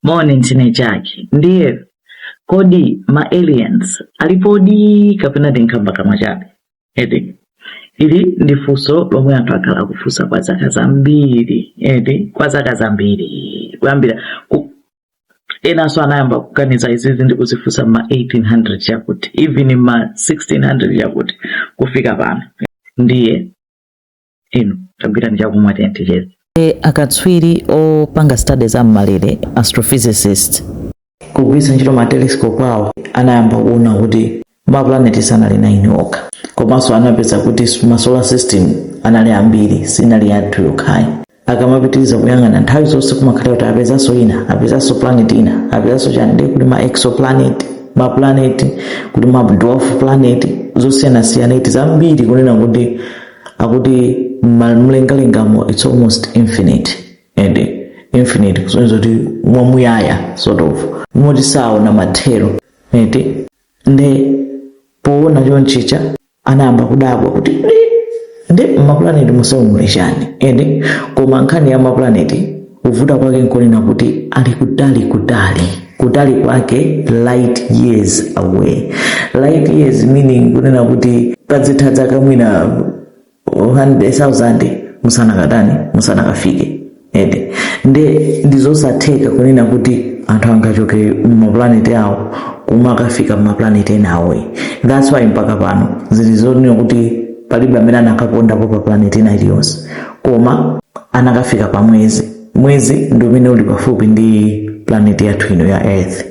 mone ntchindi chake ndiye kodi ma aliens alipodi kapena ndi nkhambakamwa chabe eti ili ndi funso lomwe anthu akhala akufunsa kwa zaka zambiri eti kwa zaka zambiri kuyambira ku- enanso anayamba kuganiza izizi ndi kuzifunsa mma 1800 chakuti even mma 1600 chakuti kufika pano ndiye inu tabwerani ndi chakumwa tiyeni ticheze akatswiri opanga studies za mmalere astrophysicist kugwiritsa ntchito matelescope awo anayamba kuona kuti maplaneti sanali naini okha komanso anapeza kuti ma solar system anali ambiri sinali yathu yokhayi akamapitiriza kuyang'ana nthawi zonse kumakhala kuti apezanso ina apezanso planet ina apezanso chani ndiye kuli ma exoplanet ma planet kuli ma dwarf planet zosiyanasiyana eti zambiri kunena kuti akuti mlengalengamo it's almost infinite and infinite kusonyeza kuti mwamuyaya sort of moti saona mathero eti nde poona chonchicha anayamba kudabwa kuti nde maplaneti onsewo muli chani eti koma nkhani ya maplaneti kuvuta kwake nkonena kuti ali kutali kutali kutali kwake light years away light years meaning kunena kuti pazitha dzaka mwina 100,000 musanakatani musanakafike eti nde ndizosatheka kunena kuti anthu angachoke mumaplaneti awo kumakafika mumaplaneti enawo that's why mpaka pano zili zonena kuti palibe amene anakapondapo pa planeti ina iliyonse koma anakafika pa mwezi mwezi ndi umene uli pafupi ndi planeti yathu ino ya earth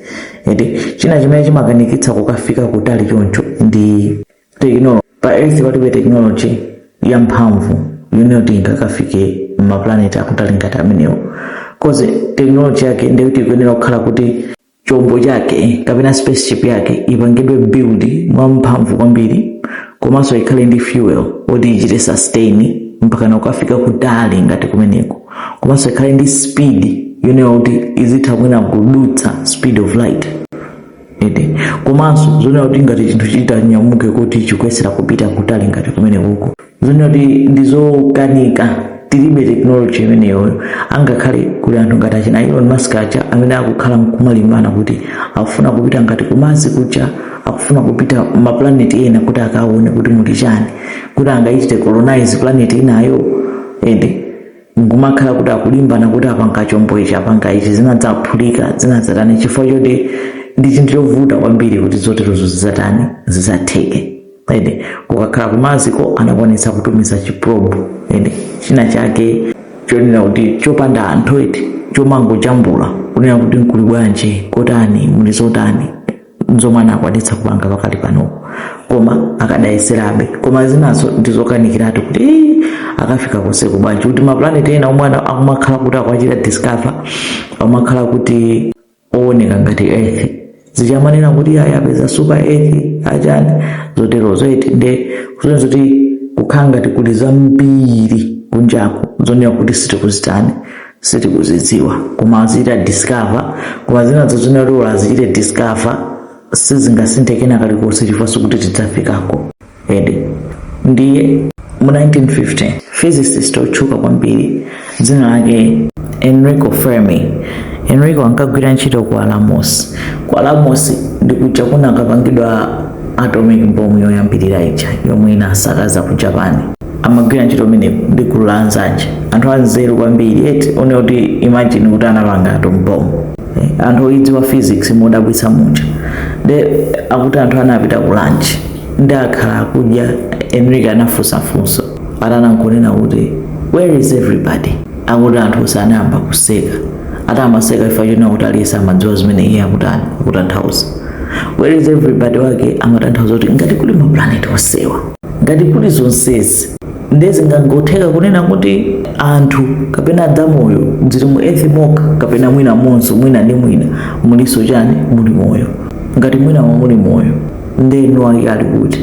eti china chimene chimakanikitsa kukafika kutali choncho ndi teknolo pa earth palibe teknoloji yamphamvu yonena kuti ingakafike mmaplaneti akutali ngati amenewo kozi teknoloji yake ndiyoti ikuyenera kukhala kuti chombo chake kapena spaceship yake ipangidwe build mwa mphamvu kwambiri komanso ikhale ndi fuel oti ichite sustain mpakana kukafika kutali ngati kumeneko komanso ikhale ndi speed yonena kuti izitha mwina kudutsa speed of light eti komanso zonena kuti ngati chinthu chitanyamuke kuti chikuyesera kupita kutali ngati kumenekuko ndi zoti ndi zokanika tilibe tekinoloji imeneyoyo angakhale kuli anthu ngati achina elon musk aja amene akukhala nkumalimbana kuti akufuna kupita ngati ku Mars kuja akufuna kupita maplaneti ena kuti akaone kuti muli chani kuti angaichite colonize planeti inayo ende nkumakhala kuti akulimbana kuti apanga chombo ichi apanga ichi zinadzaphulika zinadzatani chifukwa choti ndi chinthu chovuta kwambiri kuti zoterozo zidzatani zidzatheke ende kukakhala kumaziko anakwanitsa kutumiza chiprobe ende china chake chonena kuti chopanda anthu eti chomangojambula kunena kuti mkuli bwanji kotani muli zotani nzomwe anakwanitsa kupanga pakali pano koma akadayesabe koma zinazo ndizokanikiratu kuti "Ii, akafika konseko bwanji kuti maplaneti ena omwe ana- akumakhala kuti akwachita discover akumakhala kuti owoneka ngati earth zija amanena kuti ayi apeza super earth achani zoterozo eti nde kusonyeza kuti kukhala ngati kuli zambiri kunjaku zonena kuti sitikuzitani sitikuzidziwa koma azichita discover koma zinazo zonena kuti olo azichite discover sizingasinthe kena kalikonse chifukwa sikuti tidzafikako eti ndiye mu 1950 physicist otchuka kwambiri dzina lake enrico fermi enrico ankagwira ntchito ku alamos ku alamos ndi kuja kunakapangidwa atomic bomb yoyambirira ija yomwe inasakaza ku japan amagwira ntchito imene ndi gulu la anzake anthu anzeru kwambiri eti onena kuti imagine kuti anapanga atomic bomb Eh, anthu oyidziwa physics modabwitsa muja nde akuti anthu anapita ku lunch nde akhala akudya enrico anafunsa funso atani nkunena kuti where is everybody akuti anthu onse anayamba kuseka ati amaseka chifukwa chonena kuti aliyense amadziwa zimene iye akutani akutanthauza where is everybody wake amatanthauza kuti ngati kuli maplaneti onsewa ngati kuli zonsezi nde zingangotheka kunena kuti anthu kapena dzamoyo dziri mu earth mokha kapena mwina monso mwina ndi mwina mulinso chani muli moyo ngati mwinamo muli moyo nde enawo ali kuti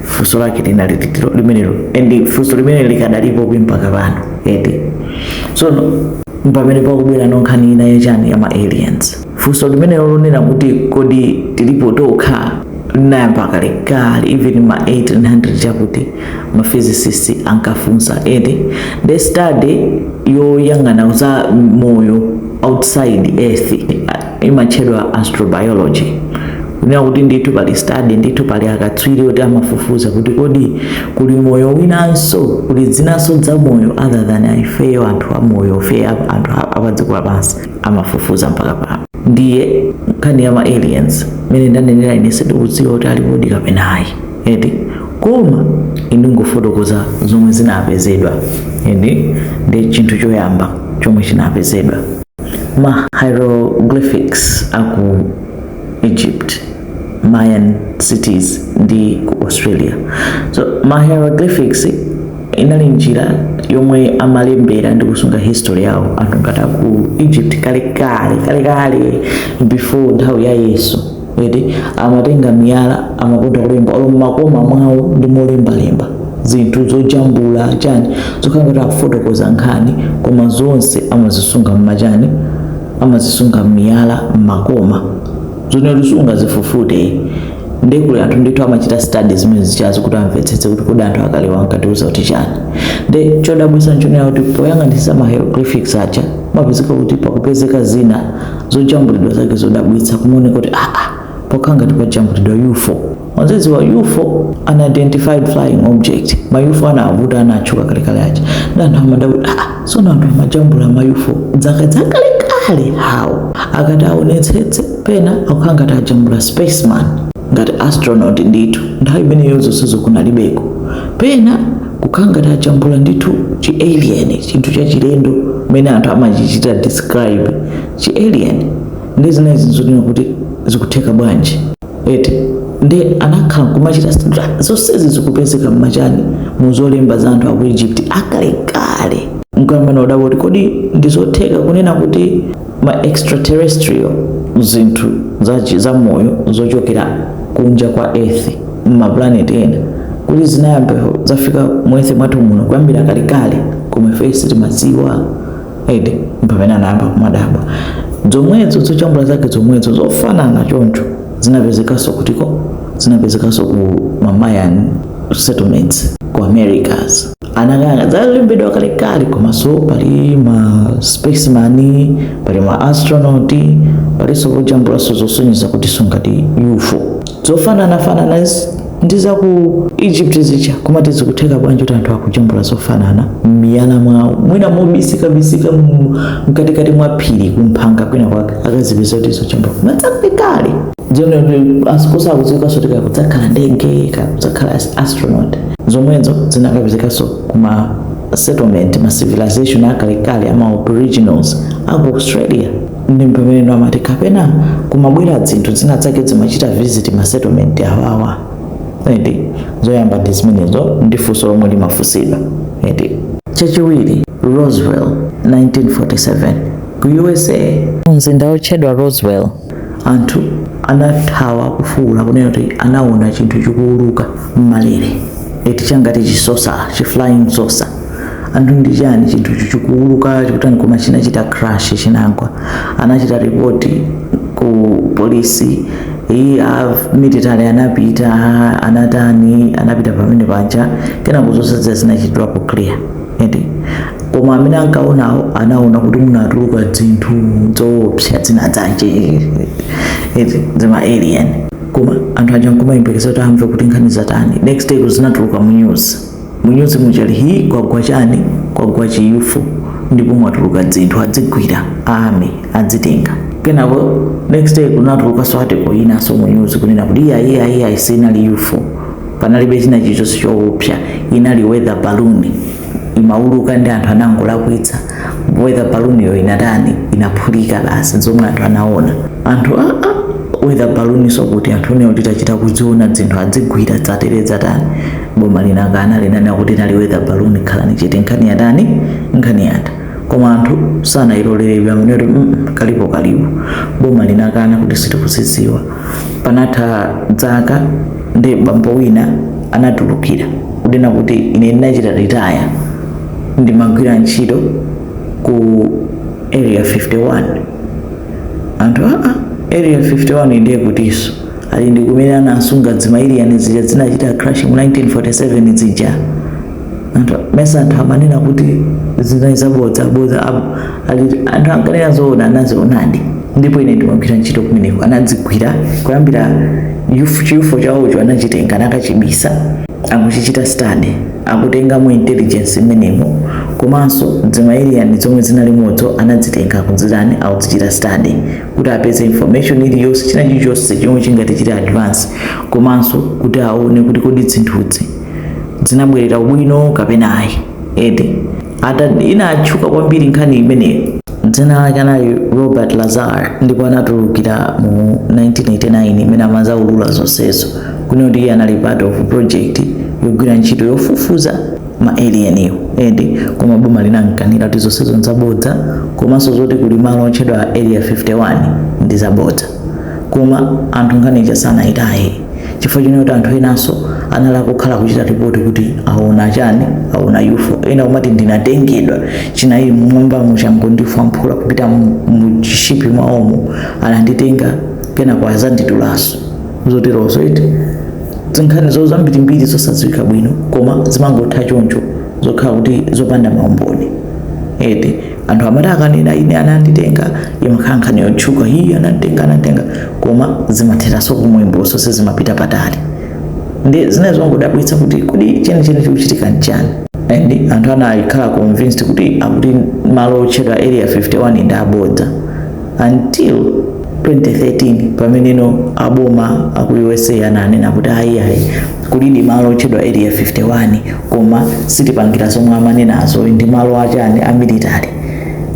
funso lake linali loti ilo limenelo and funso limenelo likadalipobe mpaka pano eti so no- mpamene pakubwera no nkhani ina yachani ya ma aliens funso limenelo lonena kuti kodi tilipo tokha linayamba kalekale even ma 1800 cha uko ma physicist ankafunsa eti the study yoyang'ana za moyo outside earth imatchedwa astrobiology kunena kuti ndithu pali study ndithu pali akatswiri oti amafufuza kuti kodi kuli moyo winanso kuli dzinanso dza moyo other than ifeyo anthu amoyo fe anthu apadziko lapansi amafufuza mpaka pano ndiye nkhani ya ma aliens mmene ndanenera ine sindikudziwa kuti alipodi kapena ayi eti koma indingofotokoza zomwe zinapezedwa ende ndi chinthu choyamba chomwe chinapezedwa ma hieroglyphics a ku egypt mayan cities ndi ku australia so ma hieroglyphics inali njira yomwe amalembera ndi kusunga history yawo anthu ngati aku egypt kalekale kalekale before nthawi ya yesu eti amatenga miyala amakonda kulemba olo mmakoma mwawo ndi molembalemba zinthu zojambula chani zokhala ngati akufotokoza nkhani koma zonse amazisunga mmachani amazisunga mmiyala mmakoma zoti sungazifufute nde kuli anthu ndithu amachita study zimene zijazo kuti amvetsetse kuti kodi anthu akalewo ankatiuza kuti chani nde chodabwitsa nchonena kuti poyang'anitsa ma hieroglyphics aja amapezeka kuti pakupezeka zina zojambulidwa zake zodabwitsa kumaoneka kuti aa pakukhala ngati pajambulidwa ufo mukudziwa ufo unidentified flying object ma ufo anavuta anatchuka kalekale aja nde anthu amadabwa so anthu amajambula ma ufo zaka zakalekale how akati aonetsetse pena akukhala ngati ajambula spaceman ngati astronaut ndithu nthawi imeneyo zonsezo kunalibeko pena Kukhala ngati ajambula ndithu chi alien chinthu chachilendo mmene anthu amachichita describe chi alien nde zinazi nzonena kuti zikutheka bwanji eti nde anakhala nkumachita zonsezi zikupezeka mmachani mu zolemba za anthu aku Egypt akalekale nkuyamba kudabwa kuti kodi ndizotheka kunena kuti ma extraterrestrial zinthu zachi za moyo zochokera kunja kwa earth mmaplaneti ena kuti zinayamba zafika mu earth mwathu muno kuyambira kalekale koma ife sitimadziwa eti mpamene anayamba kumadabwa zomwezo zojambula zake zomwezo zofanana choncho zinapezekanso kutiko zinapezekanso ku ma Mayan settlements ku americas anakaona zalembedwa kalekale komanso pali ma spaceman pali ma astronaut palinso pojambulanso zosonyeza kuti ngati ufo zofananafanana zi- ndi za ku egypt zija koma eti zikutheka bwanji kuti anthu akujambula zofanana m'miyala mwawo mwina mobisikabisika mu- mkatikati mwa phiri kumphanga kwina kwake akazipeza kuti zojambula koma zakalekale zoti kusakudziwikanso kuti ka kudzakhala ndege ka kudzakhala as- astronaut zomwezo zinakapezekanso kuma settlement ma civilization akalekale ama aboriginals aku australia ndi mpamene amati kapena kumabwera zinthu zina zake zimachita visit ma settlement awawa eti zoyamba ndi zimenezo ndi funso lomwe limafunsidwa eti chachiwiri roswell 1947 ku usa mzinda wotchedwa roswell Anthu anathawa kufuula kunena kuti anaona chinthu chikuuluka m'malere eti changati chisosa chi flying saucer. Anthu ndi chani chinthucho chikuuluka chikutani koma chinachita crash chinagwa. Anachita report ku polisi eti a military anapita anatani anapita pamene paja kenako zosatira zinachitidwapo clear. eti koma amene ankaonawo anaona kuti munatuluka dzinthu dzoopsa dzina dzache eti dzima alien koma anthu aja nkumayembekeza kuti amve kuti nkhani zatani next day kuzinatuluka mu news mu news muchali hi kwagwa chani kwagwa chi ufo ndipo mwatuluka dzinthu adzigwira army adzitenga kenako next day kunatuluka swerve yinaso mu news kunena kuti iya iya iya sinali ufo panalibe china chilichonse chowopsa inali weather balloon imauluka nde anthu anangolakwitsa weather balloon yo inatani inaphulika basi zomwe anthu anaona anthu a a weather balloon so kuti anthu ine ndinachita kuziona dzinthu adzigwira dzatere dzatani boma linakana linanena kuti inali weather balloon khalani chete nkhani yatani nkhani yatha koma anthu sanayilolere pamene kuti "Mm, mm, kalipokalipo boma linakana kuti sitikuzidziwa panatha dzaka nde bambo wina anatulukira kunena kuti ine ndinachita retire ndimagwira ntchito ku area 51 anthu aa area 51 ndiye kutiso ali ndi kumene anasunga dzima alien zija zinachita crash mu 1947 zija anthu mesa anthu amanena kuti zinali zabodza bodza apo ali anthu ankanena zoona anazionadi ndipo ine ndimagwira ntchito kumeneko anadzigwira kuyambira yufu- chi ufo chawocho anachitenga anakachibisa akuchichita study akutengamo intelligence imenemo komanso dzima alien zomwe zinalimozo anadzitenga akudzitani akudzichita study kuti apeze information iliyonse china chilichonse chomwe chingati chili advance komanso kuti aone kuti kodi dzinthuzi zinabwerera ubwino kapena ayi nde eti inatchuka kwambiri nkhani imeneyo dzina lake anali robert lazar ndipo anatulukira mu 1989 mmene amazaulula zonsezo kunena kuti iye anali part of project yogwira ntchito yofufuza ma alien edi koma boma linamkanira kuti zonsezo nzabodza komanso zoti kuli malo otchedwa area 51 ndi zabodza koma anthu nkhani ija sanayitaye chifukwa chonena kuti anthu enanso anali kukhala kuchita ripoti kuti aona chani aona ufo ena nkumati ndinatengedwa chinali mmwamba mu chinangondifwamphula kupita mu- mu chishipi mwaomo ananditenga kenako anazanditulaso zoterozo eti zinkhanizo zambirimbiri zosadziwika bwino koma zimangotha choncho zokhala kuti zopanda maumboni eti anthu amati akanena ine ananditenga imakhala nkhani yotchuka hiyi ananditenga ananditenga koma zimatheranso komwekoso sizimapita patali ndi zina zongodabwitsa kuti kodi chenicheni chikuchitika nchani and anthu anakhala convinced kuti akuti malo otchedwa area 51 ndi abodza until 2013 pameneno aboma aku usa ananena kuti ayi ayi kulidi malo otchedwa area 51 koma sitipangira zomwe amanenazo ndi malo achani a military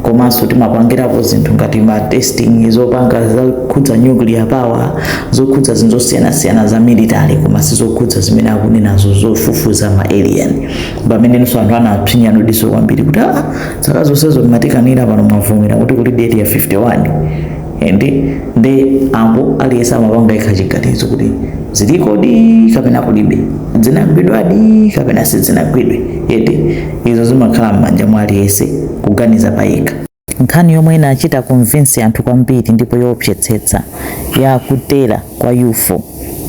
komanso timapangirapo zinthu ngati ma testing zopanga zokhudza nuclear power zokhudza zinthu zosiyanasiyana za military koma sizokhudza zimene akunenazo zofufuza ma alien pamenenso anthu anapsinyano diso kwambiri kuti a zaka zonsezo mumatikanira pano mwavomera kuti kulidi area 51 and nde apo aliyense amapanga yekha chiganizo kuti zilikodi kapena kulibe zinagwidwadi kapena sizinagwidwe eti izo zimakhala m'manja mwa aliyense kuganiza payekha nkhani yomwe inachita convince anthu kwambiri ndipo yoopsetsetsa ya kutera kwa ufo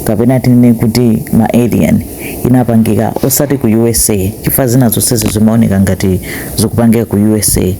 kapena tinene kuti ma alien inapangika osati ku usa chifukwa zina zonsezi zimaoneka ngati zikupangika ku usa